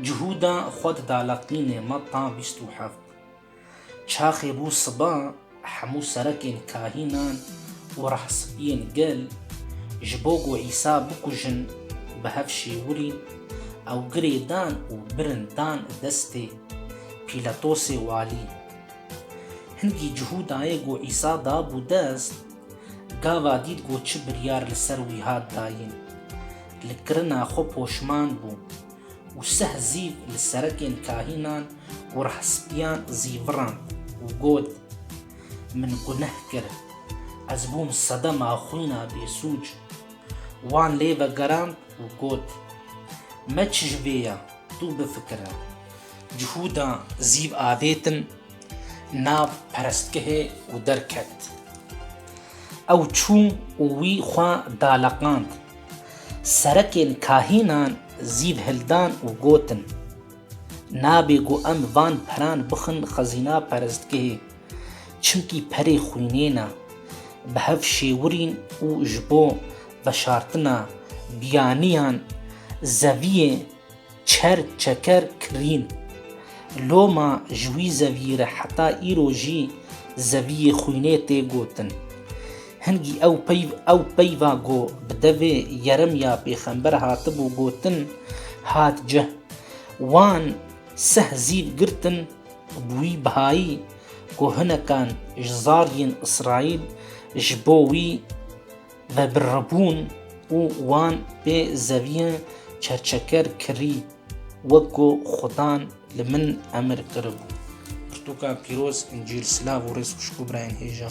Cihûda xwe dida laqînê ma ta bîst û heft. Çaxê bû siba hemû serekên kahînan û rehsibiyên gel ji bo ku Îsa bikujin bi hev şêwirîn ew girê dan û birin dan destê Pîlatosê walî. Hingî Cihûdayê ku Îsa dabû dest, Gava dît ku çi biryar li ser wî hat dayîn, li kirina xwe poşman bû û seh zîv li serekên kahînan û rehsipîyan zî virand û got, Min guneh kir, ez bûm sedema xwîna bêsûc. Wan lê vegerand û got, Me çi ji vê ya, tu bifikire. Cihûda zîv avêtin nav perestgehê û derket. Ew çû û wî xwe daleqand. Serekên kahînan zî hildan û gotin, Nabê ku em van peran bixin xezîna perestgehê, çimkî perê xwînê ne. Bi hev şêwirîn û ji bo veşartina biyaniyan zeviyê Çer çeker kirîn. Loma ji wî zevî re heta îro jî zeviyê xwînê tê gotin. Hingî ew peyv ew peyva ku bi devê Yeremya pêxember hatibû gotin hat cih. Wan seh zîv girtin bi wî bihayî ku hinekan ji zariyên Îsraîl ji bo wî Ve birribûn û wan bê zeviyê çerçeker kirî wek ku xudan li min emir kiribû. Pirtûka pîroz, Încîl, silav û rêz xwişk û birayên hêja.